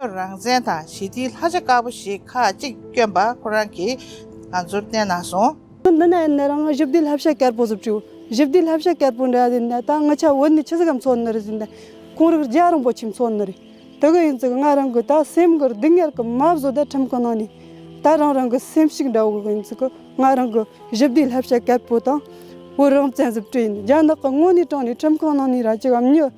རང་བཙན་དང་ཞི་བདེའི་ལྷ་བྱ་དཀར་པོ་ཞིག་ཁ་གཅིག་བསྐྱོན་པ་ཁོ་རང་གིས་ང་ཚོར་བསྟན་གནང་སོང། འདི་ནས་ནི་རང་ཞི་བདེའི་ལྷ་བྱ་དཀར་པོ་བཟོ་བྱོས། ཞི་བདེའི་ལྷ་བྱ་དཀར་པོ་འདྲ་ཟིན་ན་ད་ང་ཆ་བོད་ནས་ཆི་ཟི་གམ་ཚོ་ནི་རེད་ཟིན་ན་ཁོང་རིགས་རྒྱ་རིང་པོ་ཁྱིམ་ཚོ་ནི་རེད། དེ་གི་ཡིན་ཙི་གི་ང་རང་གི་ད་སེམས་གི་སྡུག་བསྔལ་གི་མ་བཟོ་ད་ཁྲིམས་གི་ནང་ནས་ད་རང་རང་གི་སེམས་ཤིག་འདྲ་བོ་གི་ཡིན་ཙི་གི་ང་རང་གི་ཞི་བདེའི་ལྷ་བྱ་དཀར་པོ་དང་བོད་རང་བཙན་བཟོ་བྱོས་ཡིན་རྒྱ་ནག་གི་དངོས་ནས་དྲངས་ནས་ཁྲིམས་གི་ནང་ནས་ར་ཅི་གམ་ཉི།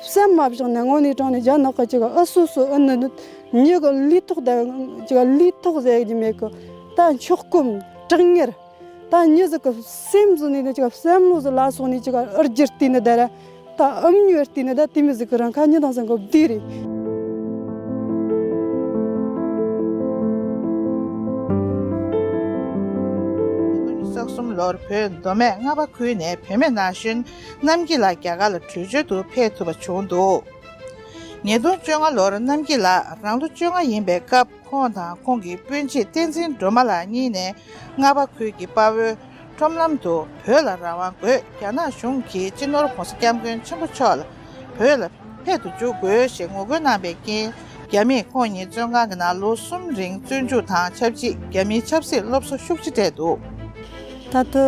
སེམས་མ་བྱུང་ནས་སྔོན་ལི་ཏྲོང་ནས་རྒྱ་ནག་གི་ཨུ་སུ་སུ་ཨུ་ནུ་གཉིས་ཀྱི་ལུས་ཐོག་དེ་ལུས་ཐོག་ཟེར་རྒྱུ་མེད་གི་ད་མཆོག་སྐུ་དྲང་ངེར་ད་ཉིད་ཟིག་གི་སེམས་སུ་ནས་ནི་སེམས་བློ་ཟིག་ལ་སོང་ནས་ཨུར་རྒྱུར་བལྟས་ནས་དེ་ར་ད་ཨུམ་ཉོས་བལྟས་ནས་ད་དེ་མི་ཟིག་གི་རང་ཁ་ཉིན་དང་ཟིག་གི་བདུད་རེད། ཉིས་སྟོང་དང་ཉི་གསུམ་ལོར་བོད་མདོ་སྨད་རྔ་པ་ཁུལ་ནས་བུད་མེད་ན་གཞོན་གནམ་སྐྱིད་ལགས་རྒྱ་གར་ལ་བྲོས་བྱོལ་དུ་ཕེབས་ཐུབ་པ་བྱུང་འདུག་ཉིས་སྟོང་བཅོ་ལྔ་ལོར་གནམ་སྐྱིད་ལགས་རང་ལོ་བཅོ་ལྔ་ཡིན་པའི་སྐབས་ཁོང་དང་ཁོང་གི་སྤུན་མཆེད་བསྟན་འཛིན་སྒྲོལ་མ་ལགས་གཉིས་ནས་རྔ་བ་ཁུལ་གྱི་དཔའ་བོའི་ཁྲོམ་ལམ་དུ་བོད་ལ་རང་དབང་དགོས་རྒྱ་ནག་གཞུང་གིས་སྤྱི་ནོར་གོང་ས་སྐྱབས་མགོན་ཆེན་པོ་མཆོག་ལ་བོད་ལ་ཕེབས་དུ་འཇུག་དགོས་ཞེས་ངོ་རྒོལ་གནང་པའི་རྐྱེན་རྒྱ་མིས་ཁོང་ཉིད་བཙོན་ཁང་གི་ནང་ལོ་གསུམ་རིང་བཙོན་འཇུག་དང་ཆབས་ཅིག་རྒྱ་མིའི་ཆབ་སྲིད་སློབ་གསོ་ཤུགས་ཆེ་སྤྲད་འདུག། ད་དུ་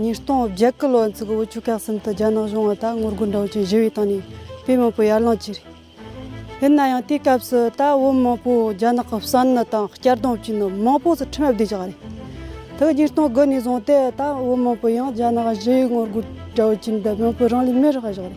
ཉིས་སྟོང་བརྒྱད་ཀྱི་ལོ་མཇུག་དབུ་ཆུ་སྐེག་གསུམ་དུ་རྒྱ་ནག་གཞུང་བ་དང་ངོ་རྒོལ་འབྲོག་ཅན་བཞི་བའི་སྟེང་ནས་བོད་མང་པོ་ཡར་ལངས་བྱས། ཡིན་ན་ཡང་དེའི་སྐབས་སུ་ད་བོད་མང་པོ་རྒྱ་ནག་གི་བསམ་ནི་དང་སྐྱར་ལྡང་བྱས་ནས་མང་པོ་ཚུར་ཁྲིམས་བསྡད་བཅུག་པ་རེད། དེ་ཉིས་སྟོང་དགུ་ནས་བཟུང་སྟེ་ད་བོད་མང་པོ་ཡང་རྒྱ་ནག་བཞི་བའི་ངོ་རྒོལ་དྲ་བའི་ཁྱིམ་དུ་བོན་པོའི་རང་ལུས་མེར་བཞག་བཞག་རེད།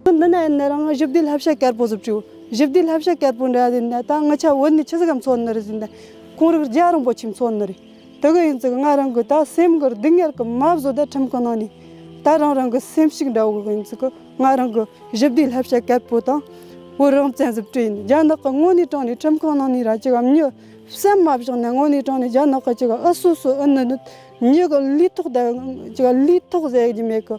ཁྱོད་འདི་ན་ཡོད་ནི་རང་བཞི་བདེའི་ལྷ་བྱ་དཀར་པོ་ཟུབ་ཅིག་བཞི་བདེའི་ལྷ་བྱ་དཀར་པོ་འདྲ་ཟིན་ད་ང་ཆ་བོད་ནས་ཆི་ཟིག་གམ་ཚོ་ནི་རི་ཟིན་ད་ཁོང་རིགས་རྒྱ་རིང་པོ་ཆིག་ཚོ་ནི་རི་དེ་གི་ཡིན་ཟིག་ང་རང་གི་ད་སེམས་གི་སྡུག་བསྔལ་གི་མ་བཟོ་ད་ཁྲིམས་གི་ནང་ནས་ད་རང་རང་གི་སེམས་ཤིག་འདྲ་བོ་གི་ཡིན་ཟིག་ང་རང་གི་བཞི་བདེའི་ལྷ་བྱ་དཀར་པོ་དང་བོད་རང་བཙན་ཟུབ་ཀྱི་ཡིན་རྒྱ་ནག་གི་དངོས་གནས་དྲང་ནས་ཁྲིམས་གང་ནང་ནས་ར་ཅི་གམ་ཉི་སེམས་མ་བཞག་ནས་དངོས་གནས་དྲང་ནས་རྒྱ་ནག་གི་ཅི་གི་ཨུ་སུ་སུ་ཨུ་ནི་ནི་ཉི་གི་ལུས་ཐོག་ད་ཅི་གི་ལུས་ཐོག་ཟེར་གྱི་མེད་གི།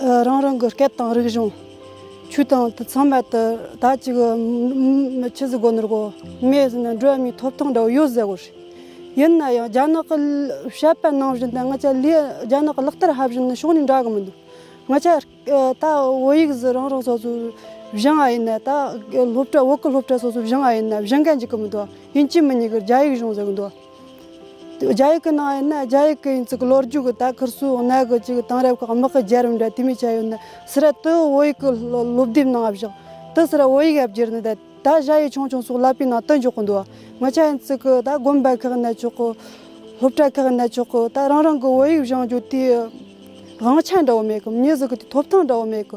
རང་རང་གི་སྐད་དང་རིག་གཞུང། ཆོས་དང་དུས་ཚང་མལ་དུ་ད་ཅི་གི། མི་ཁྱི་ཟི་སྒོ་ནོར་གོ་མེད་ཟི་ན་སྒྲོལ་མའི་ཐོབ་ཐང་འདྲ་བོ་ཡོད་ཟེར་བ་རེད། ཡིན་ན་ཡང་རྒྱ་ནག་གི་བཤད་པ་ནང་བཞིན་དུ་ང་ཚ་ལས་རྒྱ་ནག་གི་ལག་བསྟར་ཧ་བཞིན་ནི་ཕྱོགས་ནས་འདྲ་གི་མི་འདུག་ང་ཚ་ད་བོད་ཡིག་ཟི་རང་རང་སོ་སོའི་བཞེངས་བ་ཡིན་ན་ད་སློབ་གྲྭ་བོད་ཀྱི་སློབ་གྲྭ་སོ་སོའི་བཞེངས་བ་ཡིན་ན་བཞེངས་མཁན་གཅིག་གི་མི་འདུག་ཡིན་གཅིག་མིན་གཉིས་ཀྱི་རྒྱ་ཡིག་གཞུང་ཟེར་གི་འདུག། རྒྱ་ཡིག་གི་ནང་ཡིན་ན་རྒྱ་ཡིག་གི་ཡིན་ཚུལ་གྱི་ལོ་རྒྱུས་ཀྱི་དག་ཁུར་སུའི་གནད་འགག་ཅིག་དེང་རབས་ཁག་དམག་གི་རྒྱལ་རབས་འདྲ་དུས་མི་ཆད་ཡོད་ནི་སི་ར་ཏུའུ་བོད་ཡིག་གི་སློབ་དེབ་ནང་བཞག་ཏུ་སི་ར་བོད་ཡིག་ཡབ་གྱེར་ནི་ད་ད་བཞག་ཡིག་ཆུང་ཆུང་སོགས་བསླབ་པའི་ནང་བསྟུན་འཇོག་གི་འདུག་ངོ་ཆ་ཡིན་ཚུལ་གྱི་ད་དགོན་པ་ཁག་གནས་ཆོག་གི་སློབ་གྲྭ་ཁག་གནས་ཆོག་གི་ད་རང་རང་གི་བོད་ཡིག་བཞེངས་རྒྱུ་དེའི་དབང་ཆ་འདྲ་བོ་མེད་གི་མྱི་ཟུག་གི་དེ་ཐོབ་ཐང་འདྲ་བོ་མེད་གི་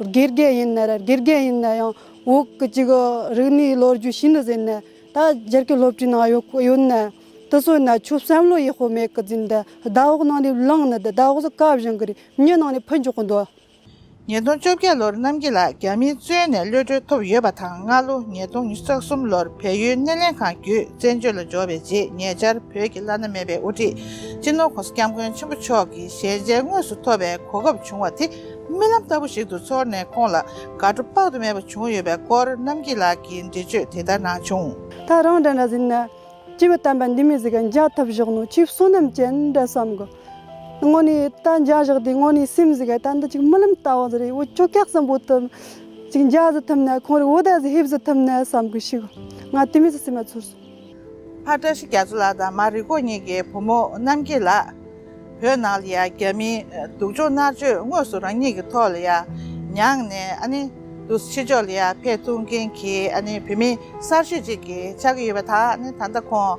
དགེ་རྒན་ཡིན་ནའི་རེད་དགེ་རྒན་ཡིན་ན་ཡང་འོག་གི་གཅིག་རིག་གནས་ལོ་རྒྱུས་ཤིན་ཏུ་ཟེར་ནས་ད་རྒྱལ་ཁའི་སློབ་གྲྭའི་ནང་ཡོད་ཡོད་ནའི་དེ་སོན་ནའི་ཆུ་བསམ་བློ་ཡི་ཧོ་མེད་གི་འཛིན་དེ་ཟླ་འོག་ནང་ནས་བླངས་ནས་དེ་ཟླ་འོག་ས་ཀ་བཞིན་གི་རི་སྙེ་ནང་ནས་འཕུད་འཇོག་གི་འདུག། ཉིས་སྟོང་བཅོ་བརྒྱད་ལོར་རྣམ་རྒྱལ་ལགས་རྒྱ་མིའི་བཙོན་ནས་གློད་གྲོལ་ཐོབ་ཡོད་པ་དང་སྔ་ལོ་ཉིས་སྟོང་ཉིས་བརྒྱ་གསུམ་ལོར་བལ་ཡུལ་སྣེ་ལེན་ཁང་བརྒྱུད་བཙན་བྱོལ་ལ་འབྱོར་བའི་རྗེས་ཉེ་ཆར་བོད་ཀྱི་བླ་ན་མེད་པའི་དབུ་ཁྲིད་སྤྱི་ནོར་གོང་ས་སྐྱབས་མགོན་ཆེན་པོ་མཆོག་གི་ཞལ་མཇལ་དངོས་སུ་ཐོབ་པའི་གོ་སྐབས་བྱུང་བ་དེ་རྨི་ལམ་ལྟ་བུ་ཞིག་ཏུ་ཚོར་ནས་ཁོང་ལ་དགའ་སྤྲོ་དཔག་ཏུ་མེད་པ་བྱུང་ཡོད་པའི་སྐོར་རྣམ་སྐྱིད་ལགས་ཀྱིས་འགྲེལ་བརྗོད་དེ་ལྟར་གནང་བྱུང། ད་རང་འདྲ་འདྲ་ཟིན་ན། སྐྱེས་བུ་དམ་པ་འདི་མི་ཟིག་ག་འཇགས་ཐབས་བཞག་ནོ་ཁྱོད་བསོད་ནམས་ཅན་འདྲ་བསམ་གོ། དངོས་ནས་ད་འཇགས་བཞག་དུས་དངོས་ནས་སེམས་ཟིག་ག་ད་འདི་ཅིག་རྨི་ལམ་ལྟ་བ་ཟེར་བའི་འུ་ཅོ་སྐྱག་ཟམ་པོ་དེ་ཅིག་འཇགས་ཟི་ཐུབ་ན་ཁོང་རིགས་འུ་ད་ཟི་ཧེབ་ཟི་ཐུབ་ན་བསམ་གོ་ཤི་གོ། ང་དེ་མི་ཟི་སེམས་མ་ཚོར། ཕ་བཀྲ་ཤིས་རྒྱ་མཚོ་ལགས་དང་མ་རི་ཁོག་གཉིས་ཀྱི་བུ་མོ་རྣམ་རྒྱལ་ལགས། བོད་ནང་ལ་ཡང་རྒྱ་མིའི་སྡུག་སྦྱོང་མནར་གཅོད་དངོས་སུ་རང་ཉིད་ཀྱི་ཐོག་ལ་ཡང་མྱངས་ནས་ཨ་ནི་དུ་ཕྱི་ཕྱོགས་ལ་ཡང་ཕེ་ཐུང་མཁན་གྱི་ཨ་ནི་བུད་མེད་གསར་ཤོས་ཅིག་གིས་ཆགས་ཀྱི་ཡོད་པ་དག་ནི་ད་ལྟ་ཁོང